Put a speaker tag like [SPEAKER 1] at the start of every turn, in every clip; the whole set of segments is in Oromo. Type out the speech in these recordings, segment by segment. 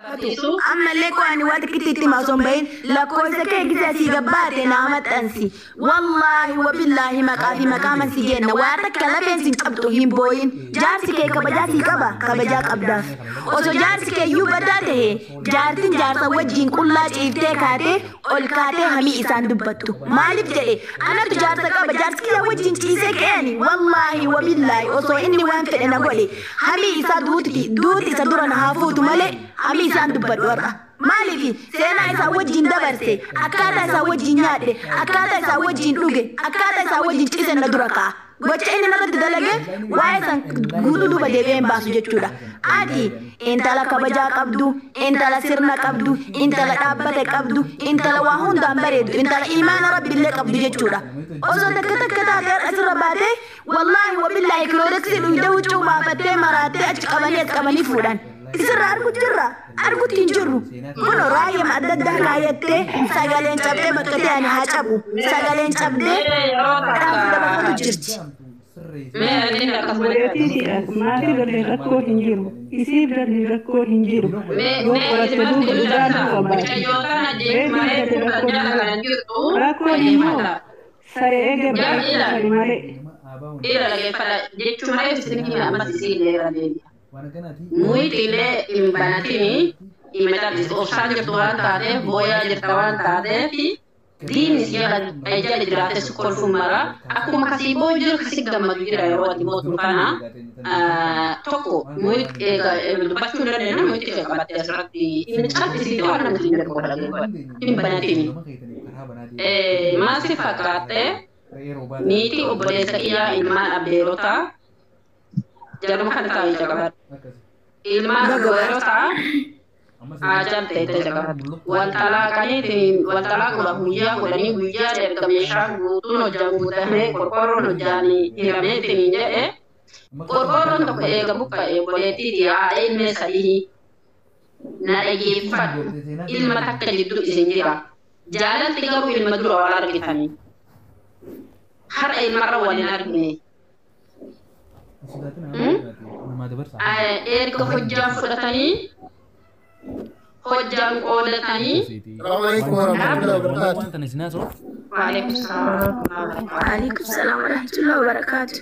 [SPEAKER 1] Matisu. Ammallee koo ani waa xiqqitti itti hima osoo hin bahin lakkoofsa kee gisa asii gabbaate naa maxxansi. Wallaahi wabillaahi maqaa fi maqaaman si geenna waa takka lafeen sin cabxu hin booyin. Jaarsi kee kabajaa sii qaba kabajaa qabdaaf. Osoo jaarsi kee iyyuu badaa tahe jaartin jaarsa wajjiin qullaa ciiftee kaatee ol kaatee hamii isaan dubbattu. Maaliif jedhe anatu jaarsa qaba jaarsi kiyya wajjiin ciisee ka'e ani wallaahi wabillaahi osoo inni waan fedhe na godhe Hamii isaa duuti duuti isa dura na haa fuutu malee hamii isaan dubbadhu har'a. Maaliifi seenaa isaa wajjin dabarse akkaataa isaa wajjin nyaadhe akkaataa isaa wajjin dhuge akkaataa isaa wajjin cise na dura ka'a. Gocha inni narratti dalage waa'ee san guutuu duuba deebi'ee hin baasu jechuudha. Ati intala kabajaa qabdu, intala sirna qabdu, intala dhaabbata qabdu, intala waa hundaan bareedu, intala imaana rabbi illee qabdu jechuudha. Osoo takka takka taate har'a sirra baatee Wallaahi wabillaahi kiloodeksiin uyda huccuu baafattee maraattee achi qabanii as qabanii fuudhan. Isirraa argu jirra? Argutti hin jirru. Kunoo raayyama adda addaa kaayattee sagaleen cabdee bakka ta'e ani haa cabu. Sagaleen cabdee dhaamsa dabarfatu jirti.
[SPEAKER 2] Obboleettiidhaaf maatii galee rakkoon hin jiru. Isiif galee rakkoon hin jiru. Yoo qoratte duuba dhugaan dhufa baati. Reetiin galee rakkoon hin jiru. Rakkoon immoo Sare ege bari sare male. Ila dhagefadha jechu
[SPEAKER 3] male isin hime ammas isiinle irra deebia muyxile hin banatini ima callisi obsaan jirtu waan taatef booyaa jirta waan taatefi diinni si jala ay jala jiraate si kolfun mara akkuma kasi booyu jira kasi gammadu jira yeroo ati mootu kana tokko muyx eega dubbachuu hin dandeenya muyxi kee qabatte asirratti hin callisi waan namti hin jedhu godha hin banatini Ee, maal si fakkaatte? Niitii obboleessa kiyyaa ilmaan abbeerotaa jaruma kana taa'ii caqafadhu. Ilmaan dubarotaa aajal teette caqafadhu. Wal xalaaqaniitiin wal xalaaquudhaaf guyyaa godhanii guyyaan erga meeshaan guutuun hojjaan guutamee qorqoorroon hojjaan hiramee isiniin jedhe qorqoorroon tokko eega buqqa'e obboleettii tiyya haadha ilmee sadihii Na dhageeffadhu, ilma takka jidduu isin jira. Jaalalti garuu ilma dura wal argitanii. Har'a ilmarra wal hin argine. Erga hojjaan fudhatanii, hojjaan qoodatanii. Waalaikum salaam warahmatullahi wabarakatuh.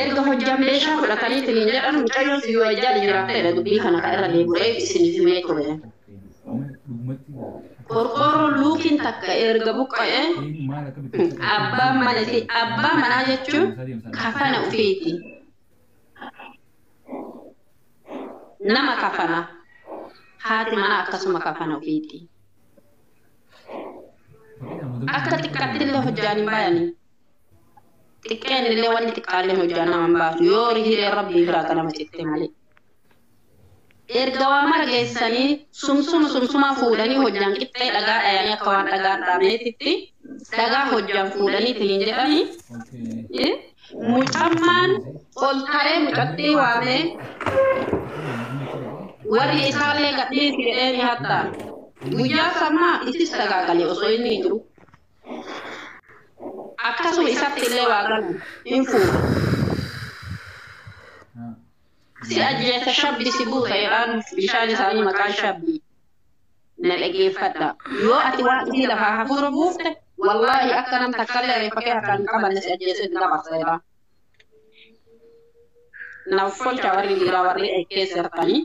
[SPEAKER 3] Erga hojjan meeshaa fudhatanii tiniin jedhan mucayyoon sun yoo ejjaadha jiraattedha dubbii kana ka irra deebi'u reefu isiniif himee ture. Qorqoorroon luukiin takka erga buqqa'ee abbaan mana isii abbaa manaa jechuun kafana ufiiti. Nama kafana haati manaa akkasuma kafana ufiiti. Akka xiqqattillee hojjaan hin bayanii. xiqqeen illee wanni xiqqaalleen hojjaa nama hin baatu yoo hireen rabbii biraa ganama citte malee erga waa mara geessanii sumsuma sumsumaa fuudhanii hojjaan qixxee dhagaa dhayanii akka waan dhagaan dhaabneetitti dhagaa hojjaan fuudhanii tiniin jedhanii eh, mucammaan ol ta'ee mucattii waamee warri isaallee gadhiisi jedhee ni hattaa guyyaa sammaa itti sagaagalee osoo inni hin jiru. akkasuma isatti illee waa galu hin fuudha. Si ajjeessa shabbi si buusa jedhaan bishaan isaanii maqaan shabbi. Na dhageeffadha. Yoo ati waan isii lafaa hafuura buufte wallaahi akka nam takkallee reeffa kee harkaan hin qabanne si ajjeessee itti dabarsa jedhaa. Naaf folchaa warri dhiiraa warri eekkee sirtanii.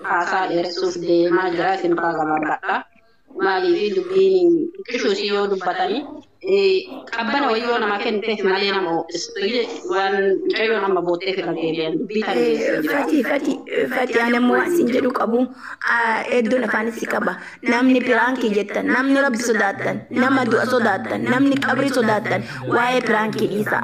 [SPEAKER 3] haasaa dheeressuuf deemaa jira isin irraa gabaabadha. Maaliif dubbiin xiqqishuu isii yoo dubbatani qabbana wayii yoo namaa kenniteef malee nama ho'istu waan mucayyoon amma bootteef irra deebi'an dubbii tan geessee jira. Fati fati
[SPEAKER 1] fati ani ammoo waan isin jedhu qabu hedduun afaanis si qaba. Namni piraankii jettan namni rabbi sodaattan nama du'a sodaattan namni qabrii sodaattan waa'ee piraankii dhiisaa.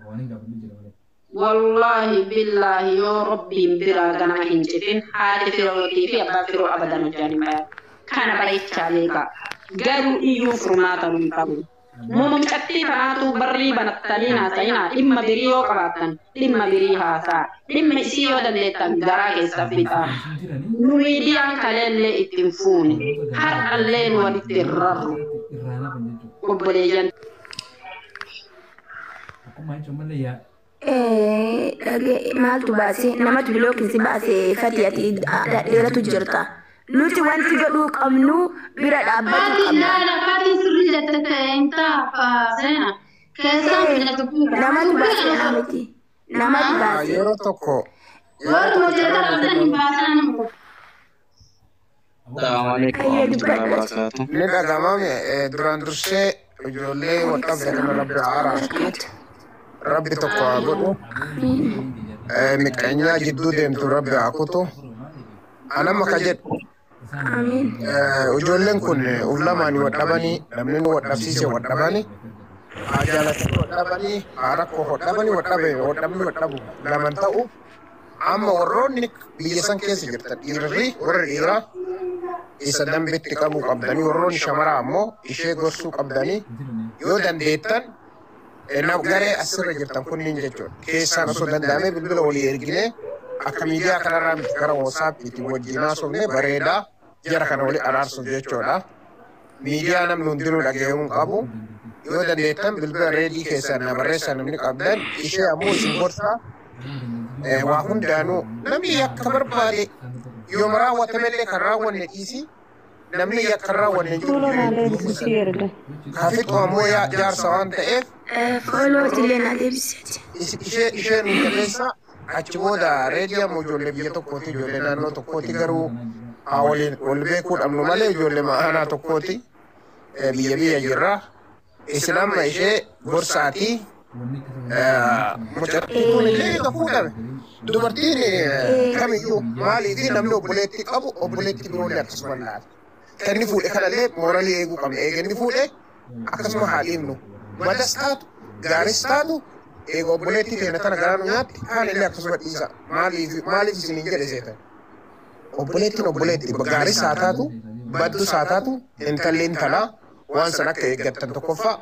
[SPEAKER 3] Waanin gaafadhu jira malee. Wollaahi billaahi yoo Rabbiin biraa ganama hin citin haati Firootii fi abbaan Firoo abadan hojjaan hin bayan. Kana bayichaa beekaa. Garuu iyyuun furmaata nu hin qabu. Muma mucattii tanaatuu barrii banattanii haasayinaa dhimma birii yoo qabaattan dhimma birii haasa'a. Dhimma isii yoo dandeettan garaa keessan fixaa. Nu miidiyaan kaleellee itti hin fuune. Har'allee nu walitti hin rarru. Obboleeyyan.
[SPEAKER 1] maaltu baase namatu bilookin si baase fati ati dheeratu jirta nuti wanti godhuu qabnu bira dhaabbatu qabna namatu baase haa miti namatu baase yeroo tokko Yoo
[SPEAKER 4] hojjetaa hojjetan hin baasan. Hayyee dubbadhu. Ni dhaga'ama mi? Eh, Duraan dursee ijoollee wal dhabde kana Rabbi haa araarsu. Rabbi tokko haa godhu. Eh, Miqqanyaa jidduu deemtu Rabbi haa kutu. An amma ka jedhu Amiin. eh, ijoolleen kun uf lamaan wal dhabanii namni wal dhabsiise wal dhabanii haa jaalatanii wal dhabanii haa rakkoo wal dhabanii wal dhabe wal dhabni wal dhabu laman ta'u Amma warroonni biyya san keessa jirtan dhiirri warri dhiiraa isa dambitti qabuu qabdanii warroonni shamaraa ammoo ishee gorsuu qabdanii yoo dandeettan nam garee asirra jirtan kunniin jechuudha. Keessaan osoo danda'amee bilbila walii erginee akka miidiyaa kanarraa miti gara WhatsApp itti wajjin haasofne bareedaa. jara kana wali araarsuuf jechoodha. Miidiyaa namni hundinuu dhaga'uu hin qabu. Yoo dandeettan bilbila reedii keessan na barreessaa namni qabdan ishee ammoo isin gorsaa eh, waa hundaanuu namni yakka barbaade yooma raawwatamellee kan raawwanne dhiisii namni yakka hin raawwanne hin jiru Fuula jireenya maalee keessa. bilisii erga. Kafitu ammoo yaa jaarsa waan ta'eef Fooloo itillee
[SPEAKER 1] na deebisee. is- ishee ishee nu
[SPEAKER 4] jabeessa Achi booda reediyam ijoollee biyya tokkooti, ijoollee naannoo tokkooti garuu haa waliin wal beekuu dhabnu malee ijoollee aanaa tokkooti eh, biyya biyya jirra. Isin amma ishee gorsaati. eh, Mucattiin kun illee kan fuudhame. Dubartiin eh, kamiyyuu maaliifi namni obboleettii qabu obboleettii biroollee akkasuma laata. Kan inni fuudhe kanallee mooralii eeguu qabna. Eega inni fuudhe akkasuma haa dhiifnu. Badas taatu, gaaris taatu, eega obboleettii teenya tana garaa nu nyaatti, kaan illee akkasuma dhiisa. Maaliif maaliif isin hin jedhe seetan? Obboleettiin obboleetti gaaris haa taatu, baddus haa taatu, intalli intalaa, waan san akka eeggattan tokkoffaa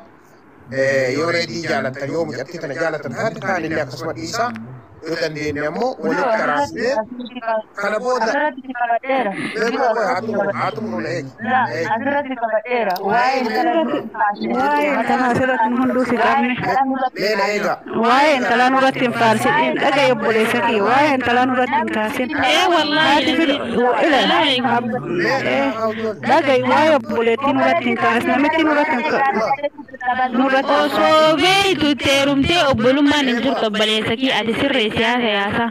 [SPEAKER 4] yoo reedii jaalattan yoo mucattii tana jaalattan taate kaan illee akkasuma dhiisaa yoo dandeenye ammoo walitti araasnee kana booda asirratti si qabadheera. mee Biroo qofa haa xumuru haa xumuru na eegi Laa, na eegi asirratti si qabadheera. Waa'ee intala
[SPEAKER 2] Asirratti- Asirratti- waa'ee intala asirratti nu hunduu si qabne. Asirratti- mee na eegaa
[SPEAKER 4] Waa'ee intalaa
[SPEAKER 2] nurratti hin faarsin in dhaga'i obboleessa kiyya waa'ee intalaa nurratti hin kaasin Ee wallaahi. haati filo ila ab- ee, dhaga'i waa'ee obboleettii nurratti hin kaasin namitti nurratti hin ka- nurratti
[SPEAKER 5] hin kaasin. Osoo beektu teerumtee obbolummaan hin jirtu obboleessa kiyya ati sirreessi haasa yaasaa.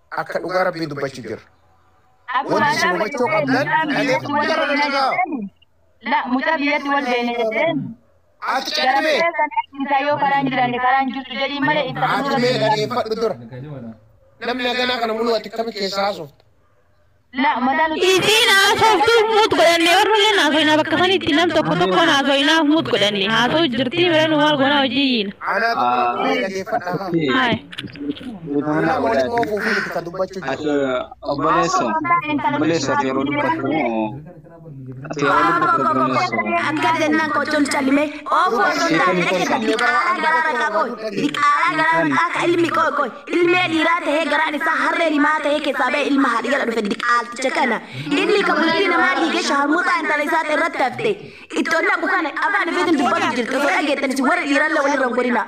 [SPEAKER 4] Akka dhugaa Rabbii dubbachu jirra. Wanti isin hubachuu qabdan dhageeffama jara na dhaga'a. La
[SPEAKER 6] mucaa biyyatti wal beeyne jetteen. Ati caqime.
[SPEAKER 4] Isaa yoo karaan
[SPEAKER 6] jiraanne karaan jirtu jedhiin malee ibsa Ati
[SPEAKER 4] mee dhageeffadhu dura. Namni haganaa kana muluu
[SPEAKER 6] ati
[SPEAKER 4] akkami keessaa haasofta?
[SPEAKER 6] La madaalu Isiin haasoftuu
[SPEAKER 5] muut godhanne warrulleen haasoinaa bakka sanitti nam tokko tokkoon haasoinaaf muut godhanne haasoo jirtii bireen maal goonaa hojii yiina. Anaa tokko dhageeffadhaa haa. Haay. Nama waliin oofuu fi itti kan dubbachuu
[SPEAKER 7] jiru. Obboleessa. Obboleessa yeroo dubbatu
[SPEAKER 1] Akka jennaan qochoon callimee oofu osoo hin taane eegata diqaalaa garaara isaa qoy diqaalaa garaara midhaa ka ilmi qoy qoy ilmee dhiiraa tahee garaan isaa harree rimaa tahee keessaa ba'e ilma haadhi jala dhufe diqaalticha kana inni ka bultii namaa dhiigee shaharmuuxaa intala isaa irratti hafte itti ol naqu kana afaan ifeetiin dubbatu jirti osoo dhageettanis warri dhiirallee walirra hin godhinaa.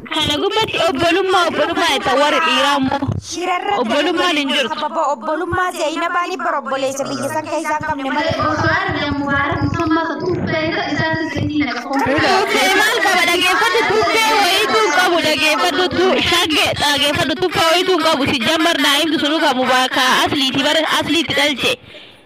[SPEAKER 5] Kana gubbatti obbolummaa obbolummaa jettan warri dhiiraa immoo Shirarra obbolummaan hin jirtu. Sababa obbolummaa
[SPEAKER 6] Zeynabaanii bara obboleessa biyya san keessaa hin qabne malee. Osoo argee Mubaarak musammaa san tuffee isa isaatti
[SPEAKER 5] zaytii naqa foon Ila tuffee maal qaba dhageeffadhu tuffee wayiitu hin qabu dhageeffadhu tu shagge dhageeffadhu tuffee wayiitu hin qabu sijjammar naa'imtu sunu kan mubaakaa asliiti bara asliiti dhalche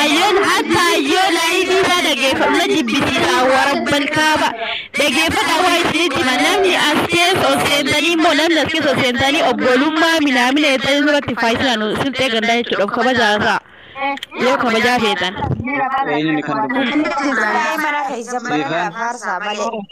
[SPEAKER 5] Ayyoon akka ayyoo laayivii isaa dhageeffamna jibbisiisaa warabban kaaba dhageeffata waa isinitti hima namni as keessa ol seentanii immoo namni as keessa ol seentanii obbolummaa minaamina jettanii duratti faayisaan silxee gandaa jechuudha of kabajaa isaa yoo kabajaa feetan. Eenyuun kan
[SPEAKER 7] dubbatu? Mana
[SPEAKER 6] keessa mana faarsaa malee.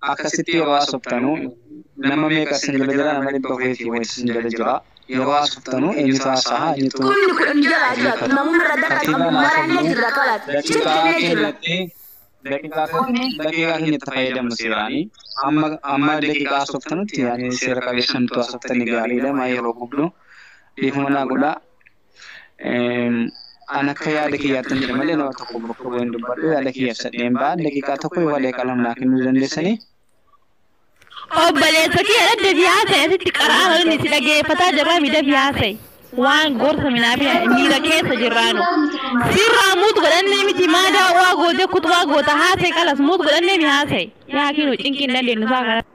[SPEAKER 7] Akkasitti yeroo haasoftanu nama meeqa isin jala jira nama dhibba afuriif fi wayiti isin jala jira yeroo haasoftanu eenyutu haasaha eenyutu Kumni kudhan jalaa jiraatu namuu irra daqa Katiibaan qabu haa maraa ni jirra kalaas jennu daqiiqaa jennee jirra. keenyatti daqiiqaa Kumni daqiiqaa keenyatti fayyadamna seeraani amma amma daqiiqaa haasoftanutti yaani seera qabeessan utuu haasoftanii gaariidha maa yeroo gubdu dhiifama naa godhaa. An akka yaada kiyyaattan jedha malee nama tokko bakka bu'een dubbadhu yaada kiyya ibsadheen ba'an daqiiqaa tokko yookaan daqiiqaa lama naa kennuu dandeessanii? Obboleessa
[SPEAKER 5] kiyya dhadda fi haasa'i asitti qara'aa malinni si dhageeffataa jabaa miidha fi haasa'i. Waan gorsa minaa fi miira keessa jirraanu. Sirraa muut godhannee miti maa daawwaa gootee kutubaa goota haasa'i kalas muut godhannee mi haasa'i. Yaa kiinu cinqii hin dandeenyu isaa kana.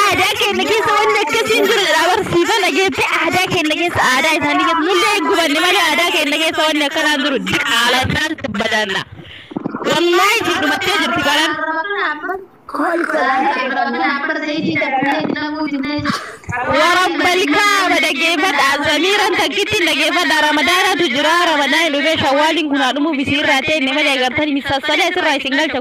[SPEAKER 5] Aadaa keenya keessa wanni akkasii hin jiru jedha barsiifa dhageetti aadaa keenya keessa aadaa isaanii keessa nullee hin gubanne malee aadaa keenya keessa wanni akkanaa hin jiru diqaala isaan badanna. Wallaahi isin dhumattee jirti baran. Warabba ilkaama dhaggeeffadha samiiran takkitti dhaggeeffadha ramadaanatu jira ramadaanni dhufee shawwaaliin kunaa dhumuuf isiirraa ta'e inni malee agartanii misaasalee asirraa isin galcha.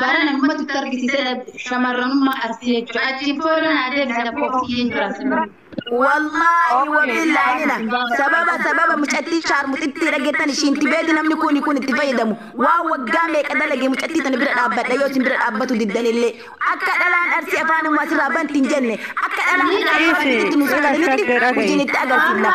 [SPEAKER 3] Barana dhumatti itti argisiisee shamarranummaa Arsii jechuudha. Achiin booda naa deebisa lakkoo
[SPEAKER 1] ofiyyeen jiraatu. Wallaahi wabillaahina sababa sababa mucattii shaarmuxittii dhageettan ishiin tibeeti namni kuni kun itti fayyadamu waa waggaa meeqa dalage mucattii tana bira dhaabbadha yoo isin bira dhaabbatu diddanillee akka dhalaan arsii afaan ummaa sirraa banti hin jenne akka dhalaan Dhiisi, dhiisi, dhagge, dhagge. hojiin itti agarsiifna.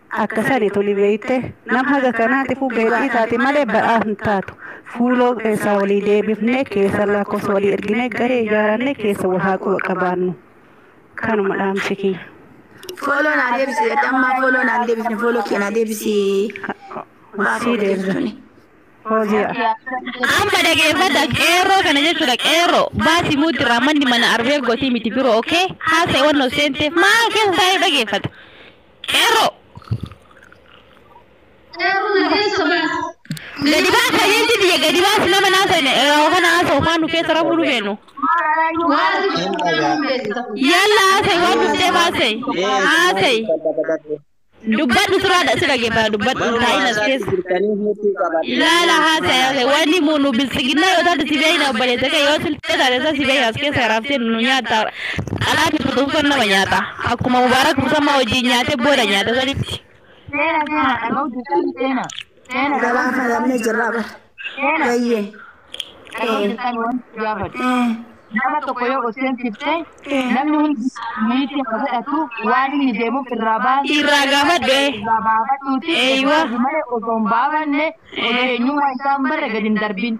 [SPEAKER 2] Akka sani tuni beeyte, nam haga kanaatifu beela'ii taati malee badhaaf hin taatu. Fuuloo keessaa walii deebifnee, keessan lakkoofsa walii erginee, garee ijaarannee keessa wal haa quba qabaannu. Kanuma dhaamsi kiyya. Follow naa
[SPEAKER 1] deebisi jedhe ammaa follow naan deebifne follow kee naa deebisi.
[SPEAKER 2] Sii deebisa. Fooziyaa.
[SPEAKER 5] Amma dhageeffadha qeerroo kana jechuudha qeerroo baasi muuddi irraa manni mana arbeer gotii miti biroo okay haasa'e wannoo seenteef maal keessa taa'ee dhageeffata. Qeerroo! Qeerroo na keessa baas. Gadi baas fayyinti biyya gadi baas nama naa seene yeroo kana haasa'u maan nu keessa rafuu nu beenu. Waati Hin dhagaa. Yalla haasa'e waan dubbee baasee haasa'e dubbadhu sirraadha si dhaggeeffata dubbadhu taa'in as keessa. Jirtanii huutu qaba. Ilaala haasa'e haasa'e wanni muunu bilsiginna yoo taate si beeyna obboleessa kee yoo siltee taate isaa si beeyna as keessa raabsee nu nyaata xalaatti tutuufan nama nyaata. Akkuma Mubaarak Musammaa wajjin nyaate booda nyaata sanitti. Seena seena dhaga'u jirtan seena.
[SPEAKER 1] Seena Gabaa kana dhabnee jirraa bara. Seena. Bayyee. dhaga'u Eh. jirtan wanti si
[SPEAKER 6] gaafadhu. Eh. Nama tokko yoo oseensifte Eh. namni hundi miitii haa godhatu waan inni deemuuf irraa baasi. Irraa gaafadhu, eh.
[SPEAKER 5] Irraa baafadhuuti. Eeywa.
[SPEAKER 6] Malee osoo hin baafanne osoo eenyummaa isaa hin barre gadi hin darbin.